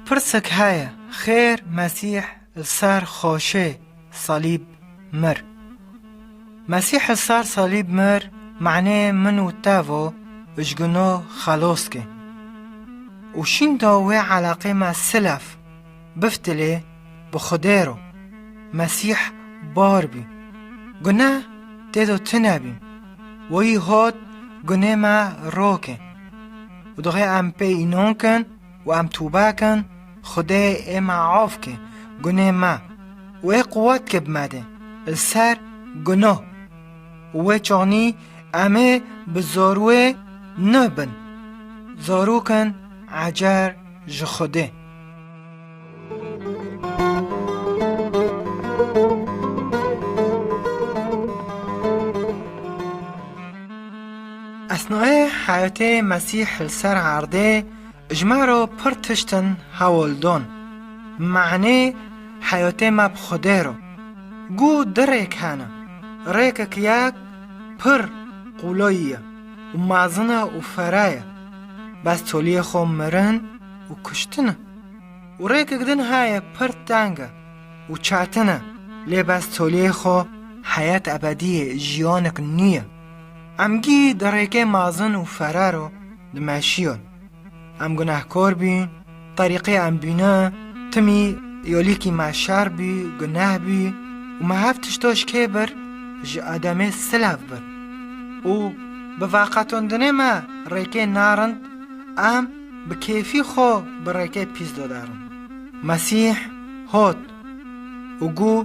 Pirsek heye, xêr Mesîh li ser xweşê salîb mir? Mesîh li ser salîb mir manê min û te vo ujgino xeloskê. Û şînda wê eleqê me silef. Biftilê bi Xwedê ro, Mesîh bar bî, guneh tê do tune bî, wî hot gunê me rokê. Û dixê em pê înon kin û em tûbe kin, Xwedê ê me af kê gunê me û ê quwet kê bi me dê li ser gunoh. Û wê çanî em ê bi zarûê nuh bin, zarû kin ecer ji Xwedê. Esnayê heyetê Mesîh li ser erdê ji me re pir tiştin hewl dan. Me'nê heyetê me bi Xwedê re. Goh du rêk hene, rêkek yek pir qolayî ye û mezin e û fere ye, bes toliyê xwe mirin, û kuştin e û rêkek din heye pir teng e û çetin e, lê bes toleyê xwe heyet ebedî ye, jiyanek nû ye. Em gî di rêkê mezin û fere re dimeşiyin. Em gunehkar bûyin, terîqê em bûne, timî yolîkî me şer bû, guneh bû û me hev tişta ji kê bir ji Edemê silev bir û bi veqetandinê me rêkê nerind em Bi kêfî xwe bi rêkê pîs dodarin. Mesîh hot û gu,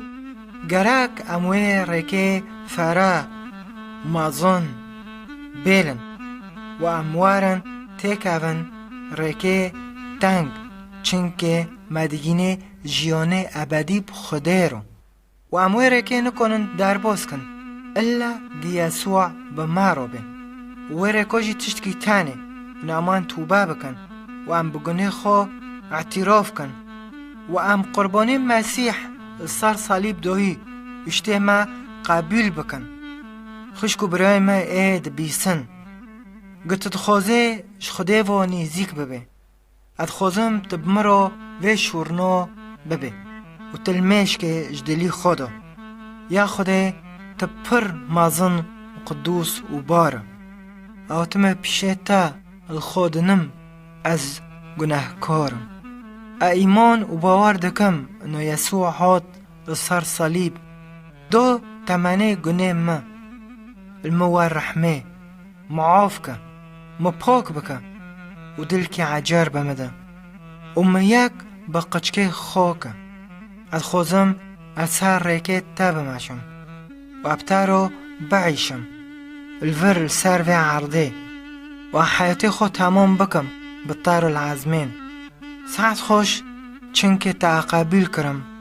Gerek em wê rêkê fere, mezin, bêlin û em werin têkevin rêkê teng, çimkê me digînê jîyanê ebedî bi Xwedê re. Û em wê rêkê nikonin derbos kin, illa diya siwa bi ma re bên. Û wê rêko jî tiştkî tenê, û naman tûbe bikin, û em bi gunê xwe îtîrof kin, û em qurbanê Mesîh li ser salîb dohî piştê me qebûl bikin. Xwişk û birayên me ê dibîsin. Gu tu dixwazê ji Xwedê ve nêzîk bibê. Ez dixwazim tu bi min re vê şûrna bibî û tu li mêşkê ji dilî xwe de ya Xwedê tu pir mezin û qidûs û bar î. Ew timê pişê te li xwe dinim ez gunehkar im. Ez îman û bawer dikim ino Yesû hat li ser salîb da temenê gunê min li min we rehmê. Min af ke, min pak bike û dilkê ecer be min de û min yek bi qiçkê xwe ke. Ez xwezim ez ser rêkê te bimeşim û ev tero biîşim li vir li ser vê erdê û ev heyatê xwe temam bikim bi tarul ezmên. Sehet xweş çinkê te eqebîl kirim.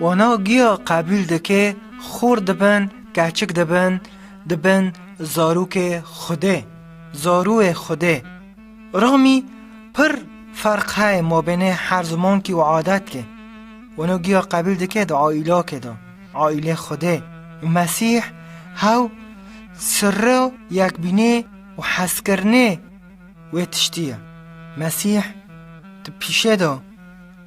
Wana giya qebûl dike xor dibin keçik dibin dibin zarokê xwedê zarûê xwedê ramî pir ferq heye mabênê her zimankî û adetkê wana giya qebûl dike di aîlakê de aîlê xwedê û mesîh hew sirra yekbînê û hezkirinê wê tiştî ye mesîh di pîşê de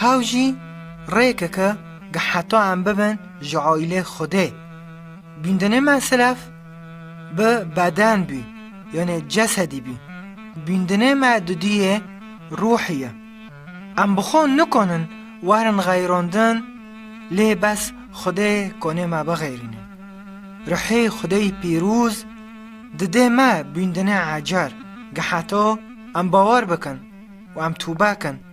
Hew jî rêkeke ge heta em bibin ji aîlê Xwedê. Bîndinê me silef bi beden bî, yanê cesedî bî. Bîndinê me dudiyê ruhî ye. Em bi xwe nikanin werin xeyrandin lê bes Xwedê kanê me bixêrîne. Ruhê Xwedêyî pîrûz didê me bîndinê ecer ge heta em bawer bikin û em tûbe kin.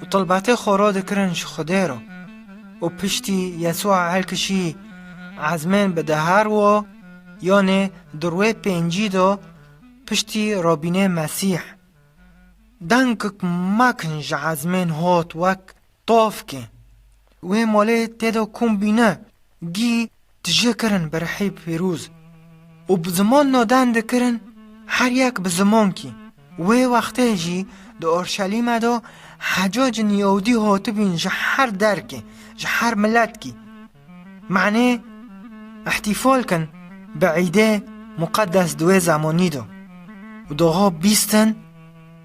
û tilbatê xwe ro dikirin ji Xwedê re û piştî Yesûa helkişî ezmên bi dehar wo yanê di rûyê pêncî de piştî rabînê Mesîh. Dengek mak in ji ezmên hot wek tavkê. Wê malê tê de kom bîne, gî Tije kirin bi rihê pîrûz û bi ziman nodan dikirin her yek bi zimankî. Wê wextê jî di Urşelîme de hecacên Yewdî hatibîn ji her derkê, ji her miletkî. Manê îhtîfal kin bi îdê muqedes di wê zemanî de û diha bîstin,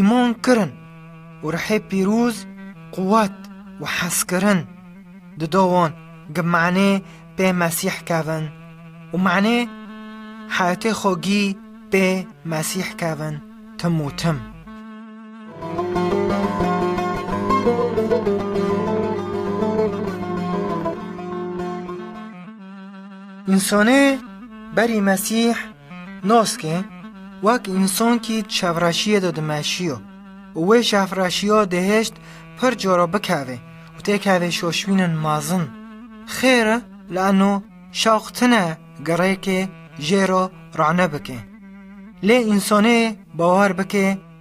Îman kirin û rihê pîroz, quwet û hezkirin dido wan gi manê pê Mesîh kevin û manê heyetê xwe gî pê Mesîh kevin tim û tim. Însanê berî Mesîh Nas ke, wek însankî di çevreşiyê de dimeşiyo û wê çevreşiya dihêşt pir cara bikevê û têkevê şoşbînin mezin. Xêr e li eno şewq tine girêkê jê re rane bike. Lê însanê bawer bike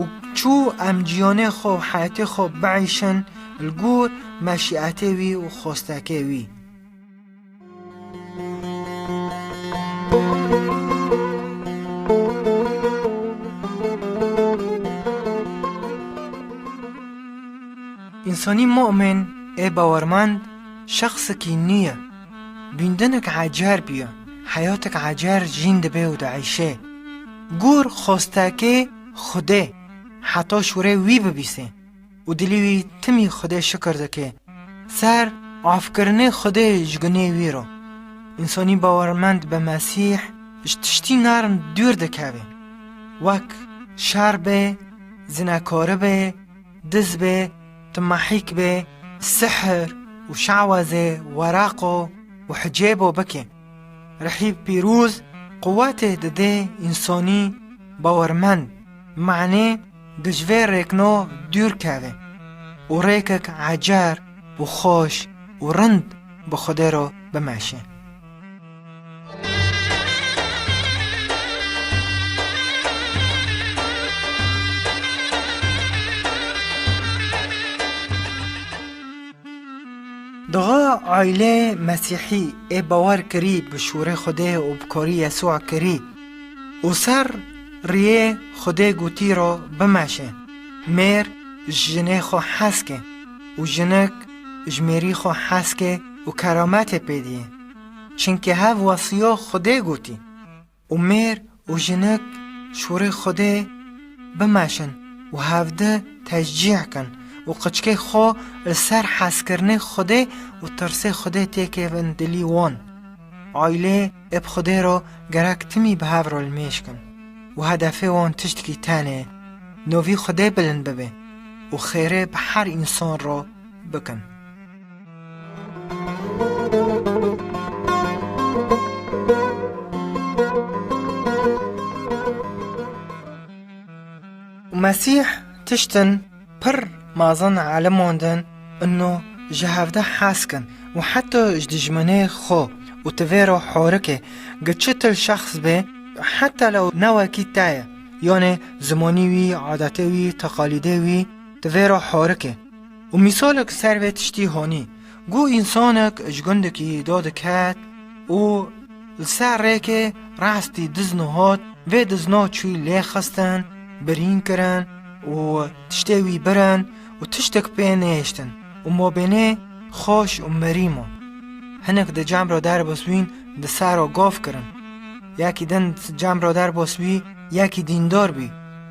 Û çû em cîyanê xwe û heyetê xwe biêşin li gor meşîetê wî û xwestekê wî. Însanî mu'min ê bawermend şexsekî nû ye. Bîndinek ecer bûye, heyatek ecer jîn dibe û diêşe. Gûr xostekê Xwedê heta şûrê wî bibîsê û dilî wî timî Xwedê şikir dike ser afkirinê Xwedê ji gunê wî re. Însanî bawermend bi Mesîh ji tiştî nerm dûr dikeve wek şer be, zinekari be, diz be, timahîk be, sihir û şewezê, weraqo û hicêbo bike. Rihîb pîroz quwetê didê însanî bawermend manê di ji vê rêkna dûr keve û rêkek ecer û xweş û rind bi Xwedê re bimeşe. Duha aîleyê Mesîhî ê bawer kirî bi şûrê Xwedê û bi korî Yesûa kirî û ser rîyê Xwedê gotî ro bimeşe, mêr ji jinê xwe heskê û jinik ji mêrî xwe heskê û kerametê pê dîyê. Çimkî hev wesîyo Xwedê gotî, Û mêr û jinik şûrê Xwedê bimeşin û hevdi teşcîh kin û qiçkê xwe li ser hezkirinê Xwedê û tirsê Xwedê têkê bin dilî wan. Aîlê ê bi Xwedê re gerek timî bi hev re li mêj kin û hedefê wan tiştkî tenê navî Xwedê bilind bibe û xêrê bi her însan re bikin. Mesîh tiştin pir mazin eleman din û ji hevdeh hez kin û heta ji dijminê xwe û ti vê re horikê gi çi til şexs bê heta lew ne wekî te ye yanê zimanî wî, adetê wî, teqalîdê wî ti vê re horikê. Û mîsalek ser vê tiştî hanî, Guh însanek ji gundekî da diket û li ser rêkê rastî dizno hat, vê dizna çû lê xistin, birîn kirin û tiştê wî birin û tiştek pê nehêştin û mabênê xweş û mirî ma. Hinek di cem re derbasbîn di ser re gav kirin. Yekî din di cem re derbasbî, yekî dîndar bî.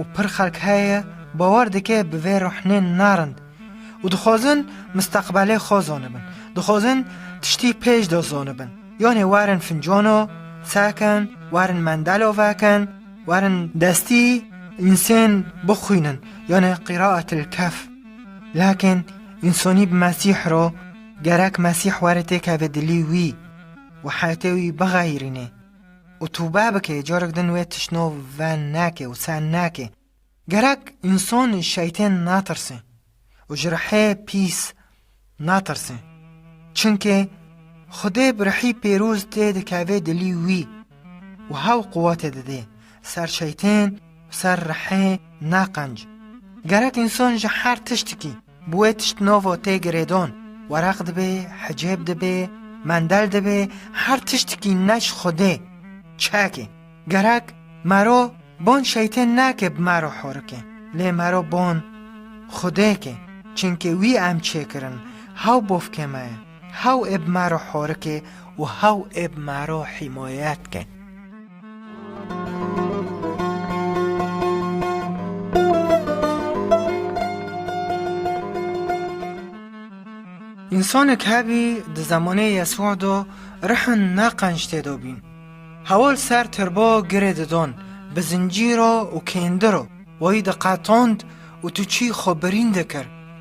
û pir xelk heye bawer dike bi vê rûhnên narind û dixwazin misteqbelê xwe zanibin, dixwazin tiştî pêş de zanibin. Yanê werin fincana sekin, werin mendela vekin, werin destî însên bixwînin yanê Qîraetil Kehf. Lakin însanî bi Mesîh re gerek Mesîh were têkeve dilî wî û heyetê wî bixeyirînê. û tûbe bike carek din wê tişt no ve neke û sen neke. Gerek însan ji şeytên natirse û ji rihê pîs natirse. Çimkî Xwedê bi rihî pêroz tê dikevê dilî wî û hewl quwetê didê ser şeytên û ser rihê naqenc. Gerek însan ji her tiştikî, Bi wê tişt novo tê girêdon, wereq dibê, hicêb dibê, mendel dibê, her tiştikî ne ji Xwedê. Çekê, gerek mero bon şeytên neke bi mero horikê, lê mero bon Xwedê ke, çinke wî em çêkirin, hew bofkê me ye. Hew ê bi me re horike û hew ê bi me re hîmayet ke. Însanek hebî di zemanê Yesûa de rihin ne qenc tê de bîn. Hewil ser tirba girê didan, bi zincîra û kêndira wayî diqetand û tu çî xwe birîn dikir.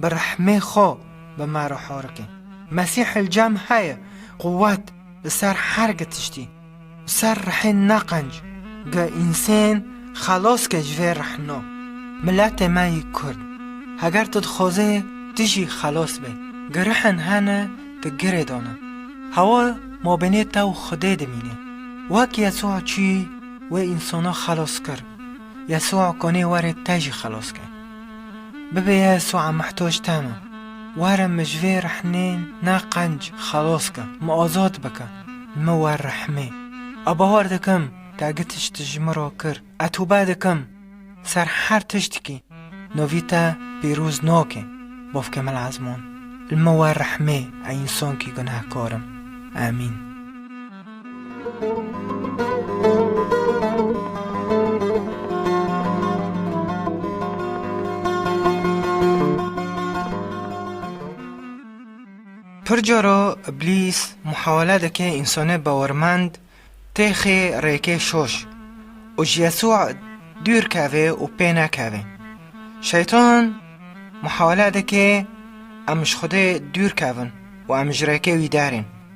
Bi rehmê xwe bi me re horike. Mesîhil cem heye, quwet, li ser her gi tiştî, li ser rehê neqenc, ge însên xelas ke ji vê rehna. Miletê me yî Kurd, heger tu dixwazê tu jî xelas bê, ge rehên hene ke girê dane, hewa mabênê te û Xwedê dimîne. Wek Yesûa çû wê însana xelas kir, Yesûa kanê were te jî xelas ke. Bibê ya Su'a muhtoj teno. Were min ji vê rexnê na qenc xelos ke, min azad bike, li min wer rehmê. A bawer dikim te gi tişt ji min re kir, a tûbe dikim ser her tiştikî navî te pîroz nake, bavke min Ezman, li min wer rehmê a însankî gunehkar im. Amîn. Pir cara iblîs muhewele dike însanê bawermend tê xê rêkê şoş û ji Yesû dûr kevê û pê nekevê. Şeytan muhewele dike em ji Xwedê dûr kevin û em ji rêkê wî derên.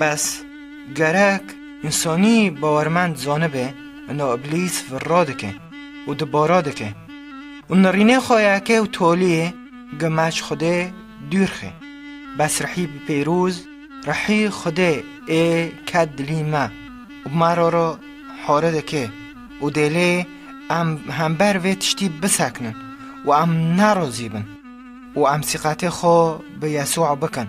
Bes, gerek însanî bawermend zanibe ina îblîs virra dike û di bara dike û nirînê xwe yeke û toliyê gime ji Xwedê dûr xe. Bes rihî bi pêroz, rihî Xwedê ê ket dilî me û me re re hare dike û dê lê em hember vê tiştî bisekinin û em nerazî bin û em sîqetê xwe bi Yesûa bikin.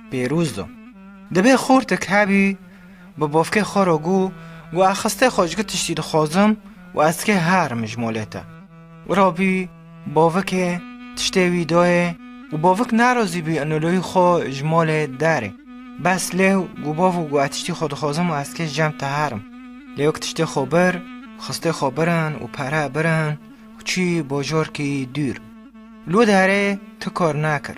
Pêrûz do. Dibe xortik hebî bi bofkê xwe re gû û axiste xwe ji ku tiştî dixwazim û ez dikê herim ji molê te. Wira bî bovikê tiştê wî dayê û bovik nerazî bî inolayî xwe ji molê derê. Bes lêw gû bovik gû ez tiştî xwe dixwazim û ez dikê jem te herim. Lêwik tiştê xwe bir, xistê xwe birin û pere birin û çî bajarkî dûr. Li derê ti kar nekir.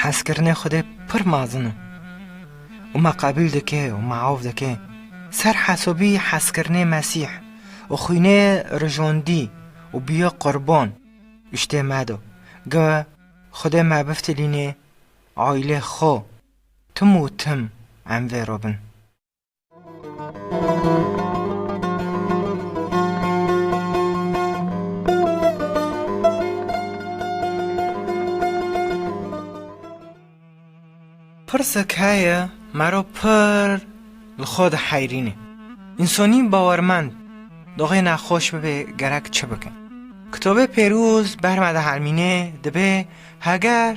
Hezkirinê Xwedê pir mezin o û me qebîl dike û me av dike. Ser hesabî hezkirinê Mesîh û xwînê rijandî û bûye qurban û şitê me da. Ge Xwedê me biftilînê aîlê xwe, tim û tim em vê re bin. Pirsek heye mero pir li xwe de heyrîne. Însanî bawermend doxê nexweş bibe gerek çi bike? Kitobê pêroz ber me de hermîne dibe heger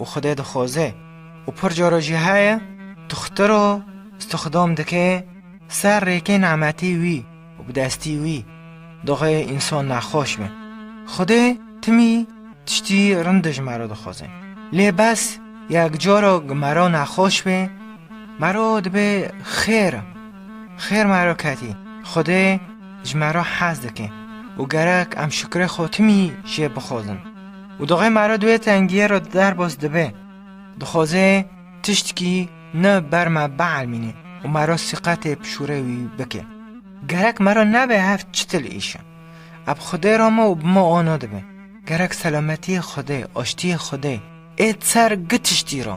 û Xwedê dixoze û pir cara jî heye tuxtir û stixdam dike ser rêkê nemetî wî û bi destî wî daxê însan nexweş be. Xwedê timî tiştî rind ji me re dixwaze. Lê bes yek cara ku me re nexweş be, me re dibe xêr e. Xêr me re ketî. Xwedê ji me re hez dike û gerek em şukrê xwe timî jê bixwazin. Û doxê me re di wê tengiyê re derbas dibe, dixwaze tiştkî ne ber me bielmîne û me re sîqetê pişûrê wî bike. Gerek me re nebe hev çitil îş e. Eb Xwedê ra me û bi me ana dibe. Gerek selametiyê Xwedê, aştiyê Xwedê ê ser gi tiştî ra.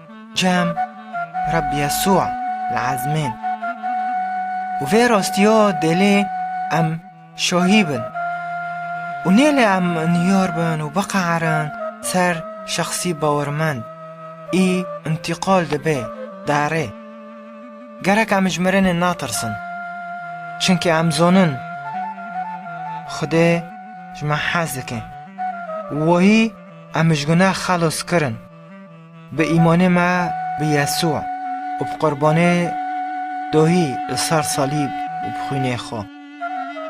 Cem, Reb Yesûa li ezmên. Û vê rastiya dêlê em şahî bin. Û nêlê em niyar bin û biqeherin ser şexsî bawermend î întîqal dibe derê. Gerek em ji mirinê natirsin. Çimkî em zanin Xwedê ji me hez dike. Wayî em ji gunex xelas kirin. Bi îmanê me bi Yesû û bi qurbanê dohî li ser salîb û bi xwînê xwe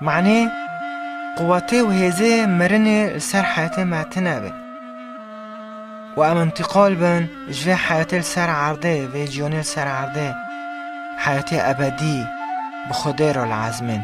Manê, quwetê û hêzê mirinê li ser heyetê me tine be û em întiqal bin ji vê heyetê li ser erdê, vê jiyanê li ser erdê heyetê ebedî bi Xwedê re li ezmên.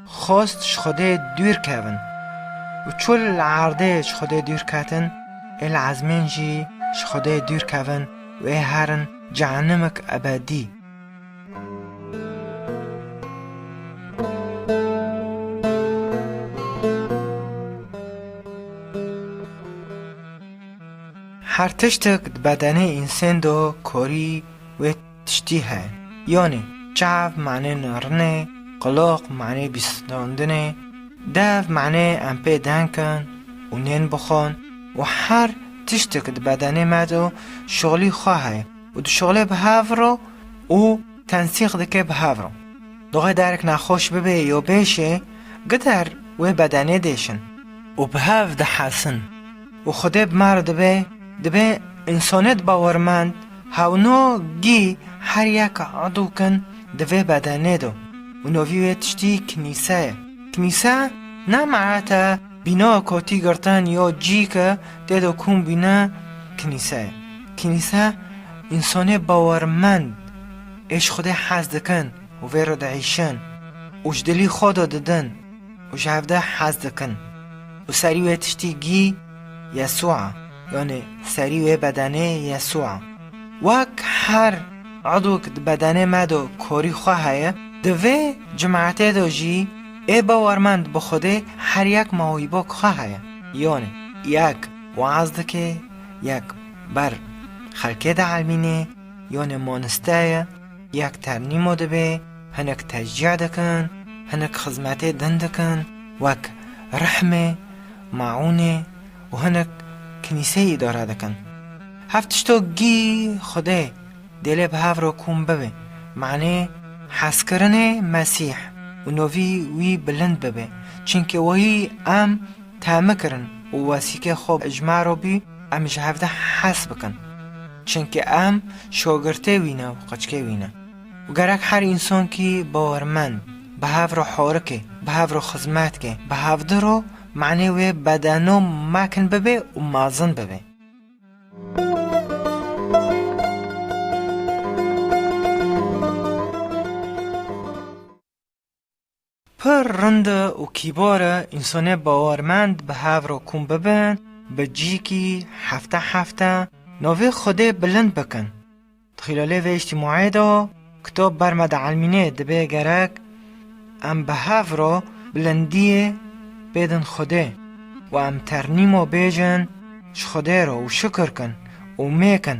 Xwest ji Xwedê dûr kevin û çû li erdê ji Xwedê dûr ketin, ê li ezmên jî ji Xwedê dûr kevin û ê herin cehenimik ebedî. Her tiştek di bedenê însen de korî wê. Tiştî he. Yanî çav manê narinê, qulaq manê bîstandinê, dev manê em pê deng kin û nên bixwin û her tiştek di bedenê me de şixulî xwe heye û dişixulê bi hev re û tensîq dike bi hev re. Dixwe derek nexweş bibe ya bêşê gider wê bedenê dêşin û bi hev dihesin. Û Xwedê bi ma re dibe, dibe însaniyet bawermend, hewno gî her yek edû kin di vê bedenê de û navî wê tiştî Kinîse ye. Kinîse ne merete bînaya kotî girtin ya cî ke tê de kom bîne Kinîse ye. Kinîse însanê bawermend ê ji Xwedê hez dikin û vê re diêşin û ji dilî xwe de didin. û ji hev de hez dikin û serî wê tiştî gî Yesû a, yanî serî wê bedenê Yesû a. Wek her edûk di bedenê me de korî xwe heye, di vê cimetê de jî ê bawermend bi Xwedê her yek ma wî bo xwe heye. Yanî yek weaz dike, yek ber xelkê de elmîne, yanî maniste ye. Yek ternîmo dibe, hinek tecîya dikin, hinek xizmetê din dikin wek rehmê, maûnê û hinek kinîseyê îdare dikin. Hev tişto gî Xwedê dê lê bi hev re kom bibe, manê hezkirinê Mesîh û navî wî bilind bibe, çimkî wayî em temi kirin û wesîkê xwe ji me re bû, Em ji hev de hez bikin, çimkî em şagirtê wî ne û qeçkê wî ne. Û gerek her însankî bawermend bi hev re harike, bi hev re xizmet ke, bi hev di re manê wê bedeno mekin bibe û mezin bibe. Pir rind û kîbar e însanê bawermend bi hev re kom bibin, bi cîkî hefte hefte navê Xwedê bilind bikin. Di xîlalê vê îjtîmaê de kitab ber me di elmînê dibe gerek em bi hev re bilindiyê bêdin Xwedê û em ternîma bêjin ji Xwedê re û şikir kin û mêkin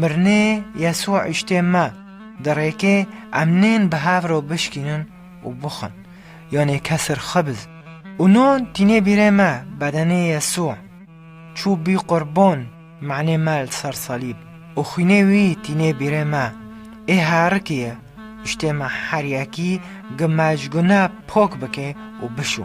Mirinê Yesû îştê me, di rêkê em nên bi hev re bişkînin û bixwin, yanê kesir xibiz û non tînê bîrê me, bedenê Yesû, çû bî qurban manê me li ser salîb û xwînê wî tînê bîrê me, ê herikî ye, îştê me her yekî gi me ji gune pok bike û bişû.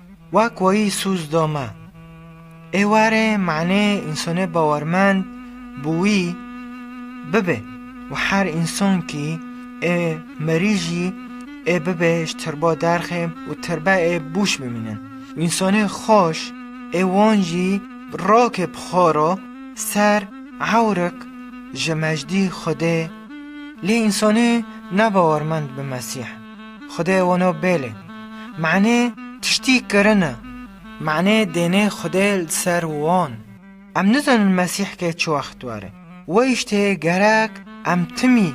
Wa koyî sûz do me. Êwarê manê însanê bawermend bi wî bibe û her însan kî ê merî jî ê bibe ji tirba derxê û tirbe ê bûş bimînin. Însanê xweş ê wan jî rakê bi xwe re ser ewrik ji mejdî Xwedê lê însanê nebawermend bi Mesîh. Xwedê weno bêlê. Manê tiştî kirine. Manê dênê Xwedê li ser wan. Em nizanin Mesîh kê çi wext were. Weyîş tê gerek em timî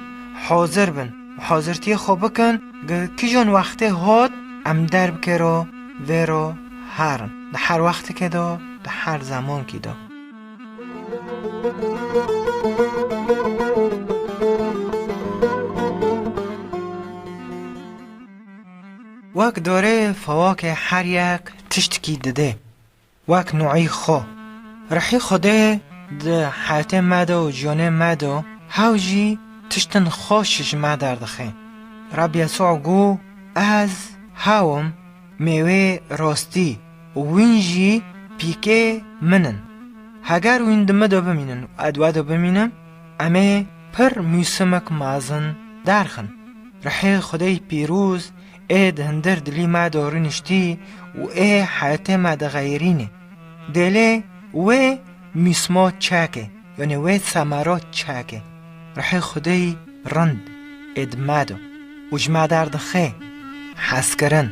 hazir bin û hazirtiyê xwe bikin gi kijan wextê hat em derbikêro vêro herin di her wextikê de di her zemankî de. Wek dorê fewakê her yek tiştekî dide, wek nuî xwe. Rihî Xwedê di heyetê me de û jiyanê me de hewl jî tiştên xweş ji me derdixe. Reb Yesû got, Ez hew im. Mêwê rastî û wîn jî pîkê min in. Heger wîn di min de bimînin û ez di we de bimînim, em ê pir mûsimek mezin derxin. Ruhê Xwedê pîroz ê di hundir dilî me de rûniştî û ê heyetê me de xeyirînê. Dêlê wê mûsima çek e. Wenê wê semero çeke. Ruhê Xwedêyî rind ê di me de û ji me derdixe. Hezkirin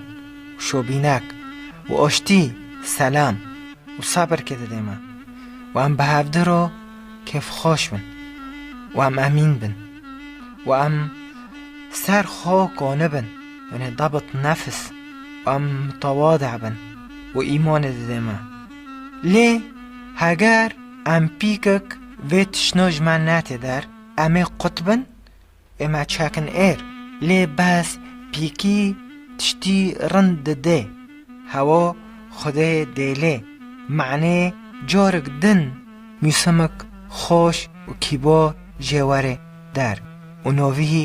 û şobînek û aştî selam û sebirkê dide me û em bi hevdî re kêfxweş bin û em emîn bin û em ser xwe qane bin, wenê dabit nefs û em mitewade bin û îmanê dide me. Lê heger. Em pîkek vê tişno ji me netê der, em ê qut bin, ê me çekin êr. Lê bes pîkî tiştî rind didê, hewa xwedê dêlê, manê carek din mûsemek xweş û kîbo jê werê der û novî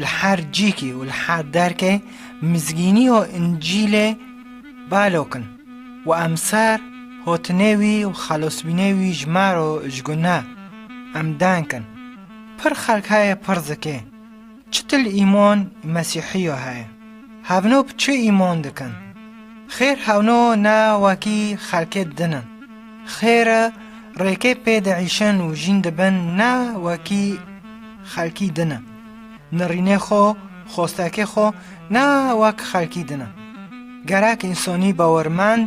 Li her cîkî û li her derkê mizgînî û încîlê balok in û em ser hotinê wî û xelosbînê wî ji me re û ji guneh em denk in. Pir xelk heye pir zikê çitil îmon ê mesîhî yo heye. Hevno bi çi îmon dikin? Xêr hevno ne wekî xelkê din in. Xêr e, rêkê pê diêşin û jîn dibin ne wekî xelkî din e. Nirînê xwe, xwestekê xwe ne wek xelkî din e. Gerek însanî bawermend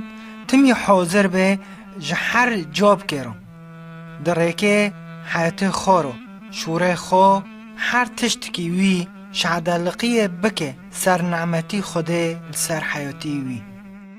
timî hazir be ji her cavkê re, di rêkê heyetê xwe re, şûrê xwe, her tiştikî wî şehedeliqiyê bike ser nimetî Xwedê li ser heyetî wî.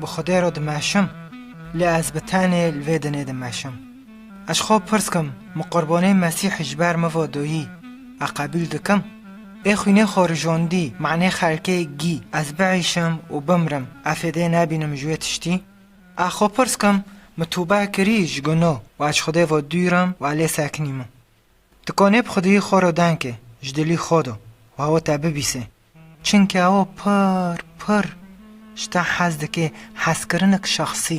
Bi Xwedê re dimeşim, lê ez bi tenê li vê dinê dimeşim. Ez ji xwe pirs kim, min qurbanê Mesîhî ji ber mivo doyî, e qebîl dikim? Ê xwînê xwe rijandî, manê xelkê gî, ez biîşim û bimrim, e fêdê nebînim ji wê tiştî? Ez xwe pirs kim, min tûbe kirî ji guno û ez ji Xwedê ve dûr im û e lê sekinî min. Tu konê bi xwediyî xwe re denke ji dilî xwe de û ew te bibîse. Çimkî ew pir pir ji te hez dike, hezkirinek şexsî.